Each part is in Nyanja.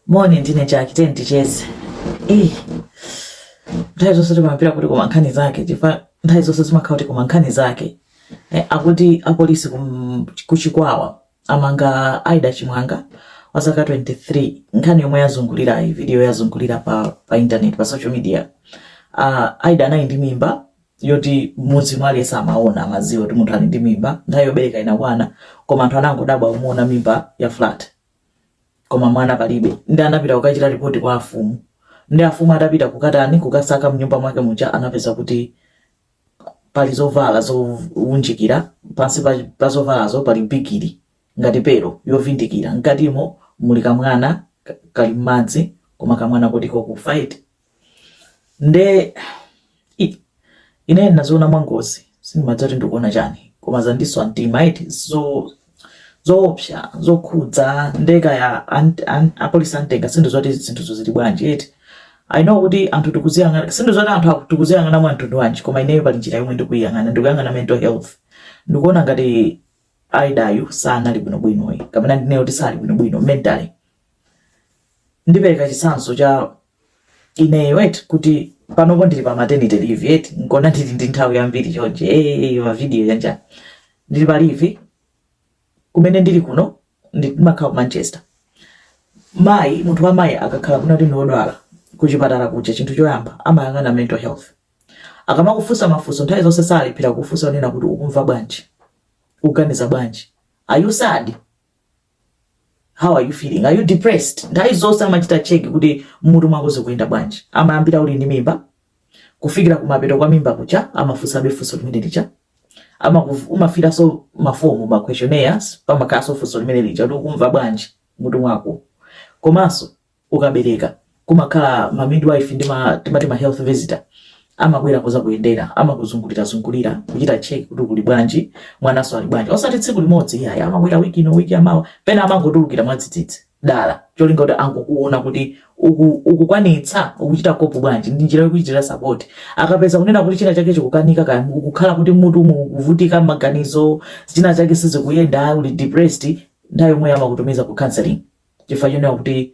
Moni ndine Jack ten ticheze. Eh. Nthawi zonse timapita kuti koma nkhani zake chifukwa nthawi zonse zimakhala kuti koma nkhani zake. Eh, akuti apolisi kum- kuchikwawa amanga Aida Chimwanga wa zaka 23 nkhani yomwe yazungulira eti video yazungulira pa, pa internet pa social media. Uh, Aida anali ndi mimba yoti m'mudzi mwake amaona amadziwa kuti munthu ali ndi mimba nthawi yobereka inakwana koma anthu anangodabwa kumuona mimba ya flat koma mwana palibe ndi anapita kukachita ripoti kwa afumu nde afumu atapita kukatani kukasaka mnyumba mwake muja anapeza kuti pali zovala zounjikira pansi pa, pa zovalazo pali bigiri ngati pero yovindikira mkatimo muli kamwana ka- kali m'madzi koma kamwana kuti kakufa eti nde ine ndinaziona mwangozi sindimadziwa kuti ndikuona chani koma zandiswa mtima eti zo zoopsa zokhudza nde kaya apolisi antenga sindidziwa kuti zinthuzo zili bwanji eti i know kuti anthu tikuziyang'ana sindidziwa kuti anthu tikuziyang'ana mwa mtundu wanji koma ineyo pali njira yomwe ndikuyiyang'ana ndikuyang'ana mental health ndikuona ngati aidayu sanali bwinobwino ayi kapena ndinene kuti sali bwinobwino mentally ndipereka chitsanzo cha ineyo eti kuti panopo ndili pa maternity leave eti nkona ndili ndi nthawi yambiri chonje eh, mavidiyo yanja ndili pa leave kumene ndili kuno ndimakhala ku manchester mayi munthu wa mmayi akakhala kunena kuti ndiwodwala kuchipatala kuja chinthu choyamba amayang'ana mental health akamakufunsa mafunso nthawi zonse salephera kufunsa kunena kuti ukumva bwanji ukuganiza bwanji are you sad how are you feeling are you depressed nthawi zonse amachita cheki kuti mmutu mwako zikuyenda bwanji amayambira uli ndi mimba kufikira kumapeto kwa mimba kuja amafunsabe funso limene lija umafilanso mafomu ma questionnaires pamakhalanso funso limene lija kuti ukumva bwanji mmutu mwako komanso Ukabereka kumakhala ma midwife ndi ma timati ma health visitor amabwera kuzakuyendera amakuzungulira zungulira kuchita check kuti uli bwanji mwananso ali bwanji osati tsiku limodzi iyayi amabwera week ino week yamawa pena amangotulukira mwadzidzidzi dala cholinga kuti angokuona kuti uku ukukwanitsa ukuchita kopu bwanji ndi njira yokuchitira support akapeza kunena kuti china chake chikukanika kaya ukukhala kuti mmutu mukuvutika maganizo china chake sizikuyenda uli depressed nthawi yomweyo amakutumiza ku counseling chifukwa chonena kuti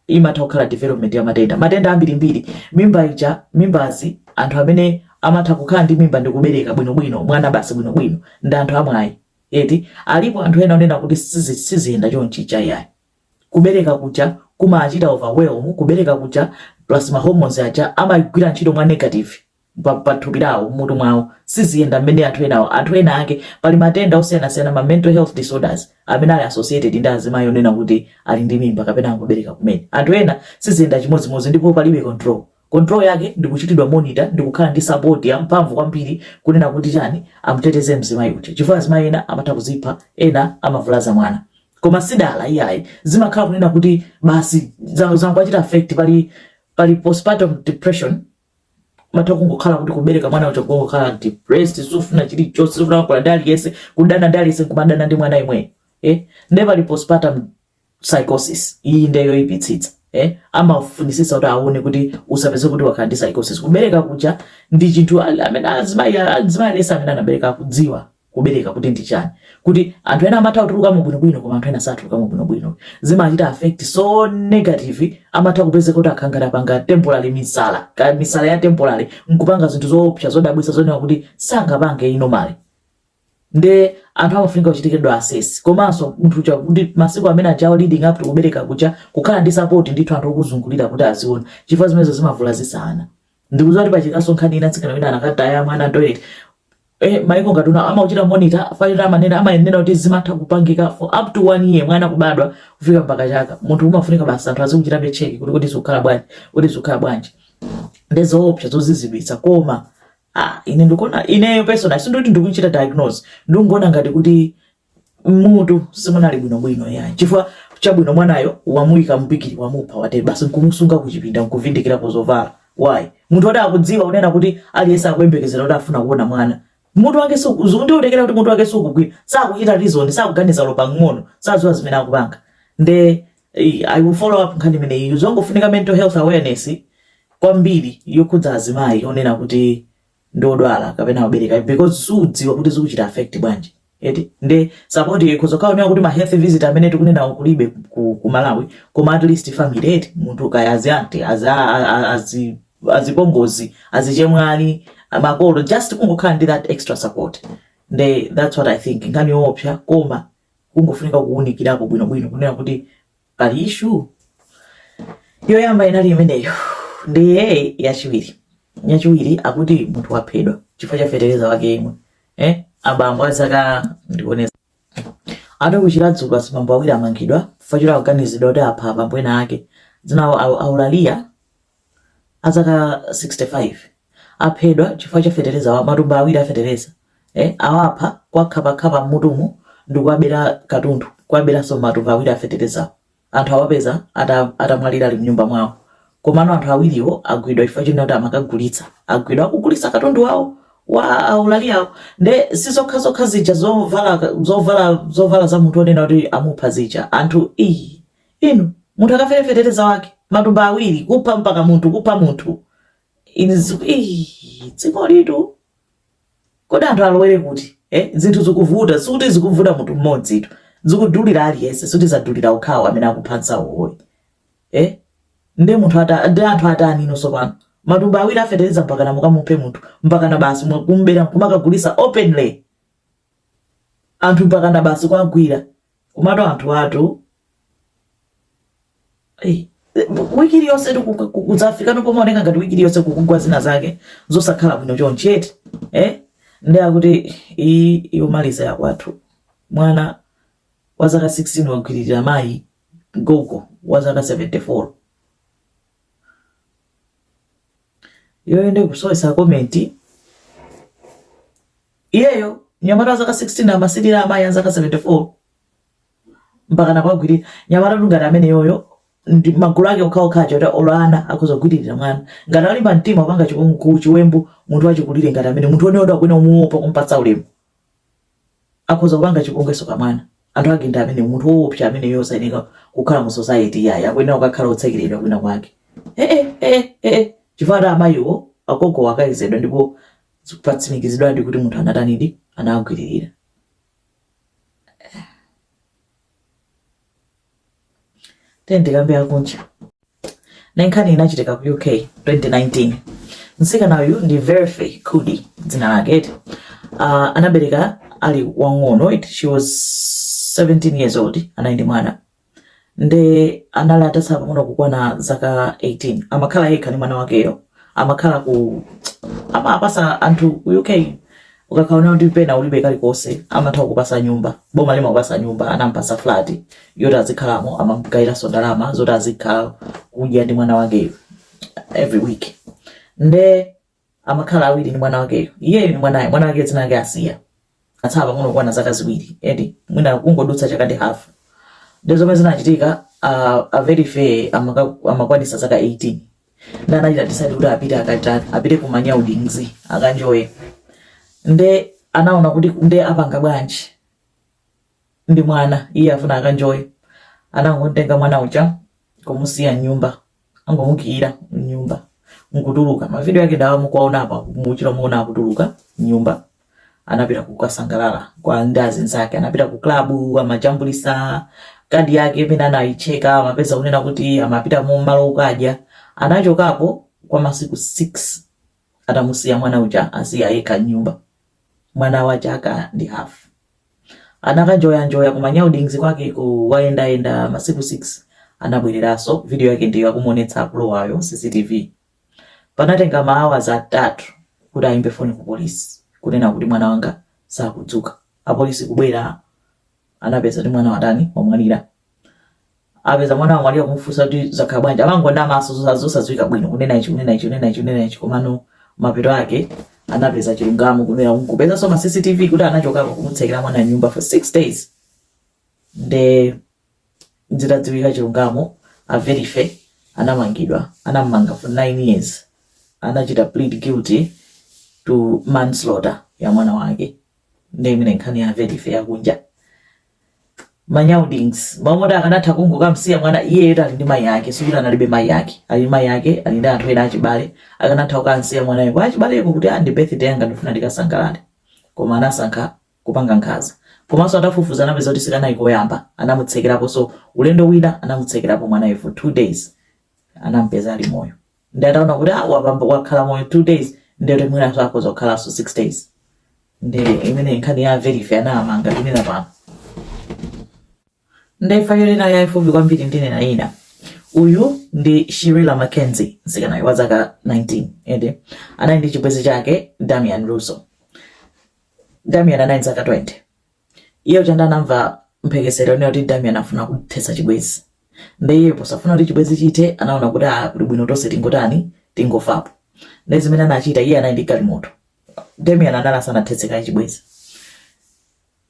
imatha kukhala development ya matenda matenda ambirimbiri mimba ija mimbazi anthu amene amatha kukhala ndi mimba ndi kubereka bwinobwino mwana basi bwinobwino ndi anthu amwayi eti alipo anthu ena onena kuti sizi- siziyenda chonchi chayi ayi kubereka kuja kumachita overwhelm kubereka kuja plus ma hormones aja amagwira ntchito mwa negative pa, pa thupi lawo mmutu mwawo siziyenda mmene anthu enawo anthu ena ake pali matenda osiyanasiyana ma mental health disorders amene ali associated ndi azimayi onena kuti ali ndi mimba kapena angobereka kumene anthu ena siziyenda chimodzimodzi ndipo palibe control control yake ndi kuchitidwa monitor ndi kukhala ndi support ya mphamvu kwambiri kunena kuti chani amuteteze mzimayi uja chifukwa azimayi ena amatha kuzipha ena amavulaza mwana koma sidala iyayi zimakhala kunena kuti basi za- zangowachita affect pali pali postpartum depression matha kungokhala kuti kubereka mwana uja kungokhala depressed sufuna chilichonse sufuna kukhala ndi aliyense kudana ndi aliyense kumadana ndi mwana yemweyo eh? nde pali postpartum psychosis iyi nde yoyipitsitsa eh? amafunisisa kuti aone kuti usapezeke kuti wakhala ndi psychosis kubereka kuja ndi chinthu al- amene azimayi azimayi aliyense amene anabereka akudziwa Kubereka kuti ndi chani? Kuti anthu ena amatha kutulukamo bwinobwino koma anthu ena satulukamo bwinobwino. Zimachita affect so negative amatha kupezeka kuti akhala ngati apanga temporary misala, kaya misala ya temporary nkupanga zinthu zoopsa zodabwitsa zonena kuti sangapange normally. Nde anthu amafunika kuchitidwa assess. Komanso munthu uja kuti masiku amene ajawo leading up to kubereka kuja kukhala ndi support ndithu anthu okuzungulira kuti aziona chifukwa zimenezo zimavulazitsa ana. Ndikudziwa kuti pachitikaso nkhani ina mtsikana wina anakataya mwana toilet eh, maiko ngati kuno amakuchita monitor chifukwa choti amanena kuti zimatha kupangika for up to one year mwana kubadwa kufika mpaka chaka munthu umafunika basi anthu azikuchitabe check kuti kodi zikukhala bwanji kuti zikukhala bwanji ndi zoopsa zozizwitsa koma ah, ine ndikuona ineyo personal sindikuti ndikuchita diagnose ndikuona ngati kuti mmutu simunali bwinobwino iyayi chifukwa chabwino mwanayo wamuyika mbigili wamupha wate basi nkumusunga kuchipinda nkuvindikirapo zovala why munthu woti akudziwa kunena kuti aliyense akuyembekezera kuti afuna kuona mwana mutu wake ndiutekera kuti mutu wake sukugwira sakuchita reason sakuganiza olo pang'ono sadziwa zimene akupanga nde eh, i will follow up nkhani imeneyi zongofunika mental health awareness kwambiri yokhudza azimayi onena kuti ndi odwala kapena obereka because sudziwa kuti zikuchita affect bwanji eti nde support ikhoza kukhala onena kuti ma health visit amene tikunenawo kulibe ku, ku malawi koma at least family eti munthu kaya azi aunty azi a- a- a- azi azipongozi azichemwali makolo just kungokhala ndi that extra support nde that's what i think nkhani yoopsa koma kungofunika kuwunikirapo bwinobwino kunena kuti pali issue yoyamba inali imeneyo ndiye yachiwiri yachiwiri akuti munthu waphedwa chifukwa cha fetereza wake yemwe eh? abambo azaka ndikuoneza ana ku chiradzulu azibambo awiri amangidwa chifukwa cha kuganizidwa kuti apha abambo ena ake dzina lawo aulalia a zaka 65 aphedwa chifukwa cha fetereza wa matumba awiri a fetereza eh, awapha kuwakhaphakhapa mmutumo ndikuwabera katundu kuwaberanso matumba awiri a fetereza anthu awapeza ata- atamwalira ali mnyumba mwawo komano anthu awiriwo agwidwa chifukwa china kuti amakagulitsa agwidwa akugulitsa katundu wawo wa aulali awo nde sizokhazokha zija zovala zovala zovala za munthu onena kuti amupha zija anthu inu Inu munthu akafere fetereza wake matumba awiri kupha mpaka munthu kupha munthu in iih dzikolitu kodi anthu alowere kuti eh? zinthu zikuvuta sikuti zikuvuta munthu mmodzi tu zikudulira aliyense sikuti zadulira okhawo amene akupha anzawowo ayi eh? nde munthu ata ndi anthu atani inonso pano matumba awiri a fetereza mpakana mukamuphe munthu mpakana basi mwa- kumbera kumakagulitsa openly anthu mpakana basi kuwagwira komatu anthu atu Ei, wiki iliyonse tu ku- ku- kudzafika pano pomaoneka ngati wiki iliyonse kukugwa zina zake zosakhala bwino chonchi eti eh? nde akuti iyi yomaliza yakwathu mwana wa zaka 16 wagwiririra mayi gogo wa zaka 74 iyoyo nde kusowetsa komenti Iyeyo mnyamata wa zaka 16 amasilira amayi a zaka 74 mpakana kuwagwirira. Mnyamatatu ngati ameneyoyo ndi magulu ake okhaokha aja oti olo ana akhoza kugwiririra mwana. Ngati walimba mtima kupanga chipong ku, chiwembu munthu wachikulire ngati ameneyo, munthu weniweni akuyenera kumuopa, kumupatsa ulemu. Akhoza kupanga chipongwenso pa mwana. Anthu ake ndi amenewo. Munthu woopsa ameneyoyo sayenera kukhala mu society iyayi. Akuyenera kukakhala wotsekeredwa kwina kwake. Hee hee hee chifukwa akuti amayiwo, agogowo akayezedwa ndipo Zatsimikizidwadi kuti munthu anatanidi? Anawagwiririra. Tiyeni tikambe akunja. Nayi nkhani inachitika ku UK 2019. Mtsikana uyu ndi Verphy Kudi dzina lake eti. Uh, anabereka ali wang'ono eti she was 17 years old anali ndi mwana nde anali atatsala pang'ono kukwana zaka 18 amakhala yekha ndi mwana wakeyo amakhala ku amapatsa anthu ku uk akakaona kuti pena ulibe kalikonse amatha kukupatsa nyumba boma limakupatsa nyumba anampatsa flat yoti azikhalamo amamgayiranso ndalama zoti azikhala kudya ndi mwana wakeyo every week nde amakhala awiri ndi mwana wakeyo iyeyo ndi mwanayo mwana wake dzina lake Asiah atatsala pang'ono kukwana zaka ziwiri eti mwina kungodutsa chaka ndi hafu nde zomwe zinachitika uh, a Verphy amakwanitsa zaka 18 nde anachita decide kuti apite akata apite ku manyado ndi anzi akanjoye nde anaona kuti nde apanga bwanji ndi mwana iye afuna akanjoye anangotenga mwana uja kumusiya mnyumba anangomukiira mnyumba nkutuluka mavidiyo ake ndi awa mukuwaona apa mutchera muona akutuluka mnyumba anapita kukasangalala kwa azinzake anapita ku klabu amajambulitsa kadi yake mmene anayicheka amapeza kunena kuti amapita mu malo okadya anachokapo kwa masiku 6 atamusiya mwana uja ali yekha mnyumba mwana wa chaka ndi hafu Anakanjoyanjoya ku manyaudings kwakeko wayendayenda masiku 6 anabwereranso video yake ndiyo akumuonetsa akulowayo cctv panatenga ma hours atatu kuti ayimbe phone ku police kunena kuti mwana wanga sakudzuka apolice kubwera anapeza kuti mwana watani wamwalira apeza mwana wamwalira kumufunsa kuti zakhala bwanji amangonamanso zosa- zosadziwika bwino kunena ichi kunena ichi kunena ichi kunena ichi komano mapeto ake anapeza chilungamo kunena kupezanso ma cctv kuti anachoka kumutsekera mwana mnyumba for six days nde zitadziwika chilungamo Verphy anamangidwa anamanga for nine years anachita plead guilty to manslaughter ya mwana wake nde imeneyo nkhani ya Verphy yakunja manyaudings momwe akanatha kungokamsiya mwana iyeyo anali ndi mayi ake sikuti analibe mayi ake ali ndi mayi ake ali ndi anthu ena achibale akanatha kukamsiya mwanayo kwa achibaleko kuti ah ndi birthday yanga ndifuna ndikasangalale koma anasankha kupanga nkhanza komanso atafufuza anapeza kuti sikanali koyamba anamutsekeraponso ulendo wina anamutsekerapo mwanayo for two days anampeza ali moyo nde ataona kuti ah, wapambana wakhala moyo two days ndekuti mwinanso akhoza kukhalanso six days nde imeneyo nkhani ya Verphy anamanga tinena pano ndayifa iliyonse ina yaifupi kwambiri ndinena ina uyu ndi shirila Mackenzie mtsikanayu wa zaka 19 ende anali ndi chibwenzi chake damian russo damian anali zaka 20 iye atangoti anamva mphekesera yonena kuti damian afuna kuthetsa chibwenzi nde iye posafuna kuti chibwenzi chithe anaona kuti a kuli bwino tonse tingotani tingofapo nde zimene anachita iye anali ndi galimoto damian anali asanathetse kaye chibwenzi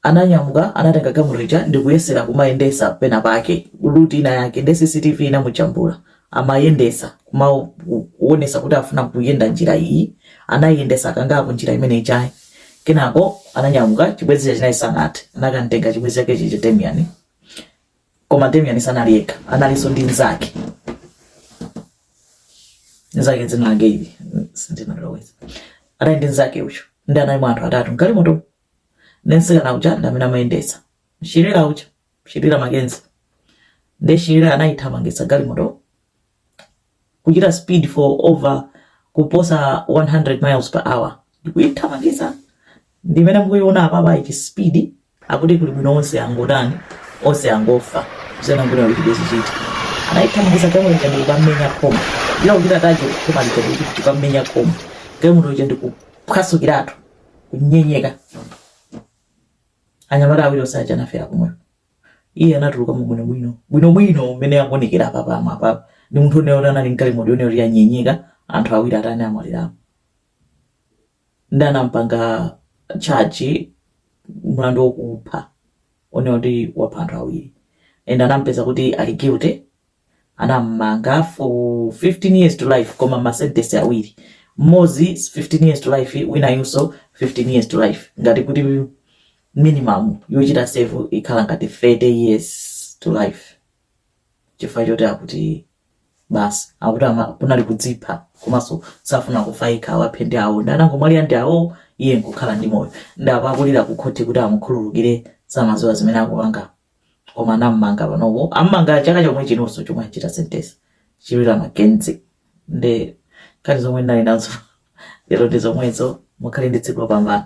ananyamuka anatenga galimoto ija ndikuyesera kumayendesa pena pake ruti ina yake nde cctv inamujambula amayendesa kumaonetsa kuti afuna kuyenda njira iyi anayendetsa kangapo njira imene ijayi kenako ananyamuka chibwenzi chake chijayi sanathetse anakamtenga chibwenzi chake chija Damian koma Damian sanali yekha analinso ndi nzake nzake dzina lake ili sindinaloweza anali ndi nzake ujo nde anali anthu atatu mgalimoto nde mtsikana uja ndi amene amayendesa Shirila uja Shirilla Mackenzie nde Shirilla anayithamangitsa galimoto kuchita speed for over kuposa 100 miles per hour ndikuyithamangitsa ndimene mukuyiona apapa ichi speed akuti kuli bwino onse angotani onse angofa zena ngulira kuti chibwenzi chiti anayithamangitsa galimoto ija ndikukamenya khoma ila kuchita target kukhoma lija kuti ndikukamenya khoma galimoto ija ndikuphwasukiratu kunyenyeka anyamata awiri onse aja anafera komweko iye anatulukamo bwinobwino bwinobwino mmene akuonekera apa pamwe apapa ndi munthu onera kuti anali mgalimoto onera kuti yanyenyeka anthu awiri atani amwalirapo ndi anampanga charge mlandu wokupha onera kuti wapha anthu awiri and anampeza kuti ali guilty anamumanga for 15 years to life koma ma sentence awiri mmodzi 15 years to life winayunso 15 years to life ngati kuti minimum yochita serve ikhala ngati 30 years to life chifukwa choti akuti basi akuti ama- kunali kudzipha komanso safuna kufa yekha awaphe ndi awo ndi anangomwalira ndi awo iye nkukhala ndi moyo ndi apo akulira kukhoti kuti amukhululukire samaziwa zimene akupanga koma anamumanga panopo amumanga chaka chomwe chinonso chomwe achita sentence Shirilla Mackenzie nde nkhani zomwe ndinali nazo lero ndi zomwezo mukhale ndi tsiku lopambana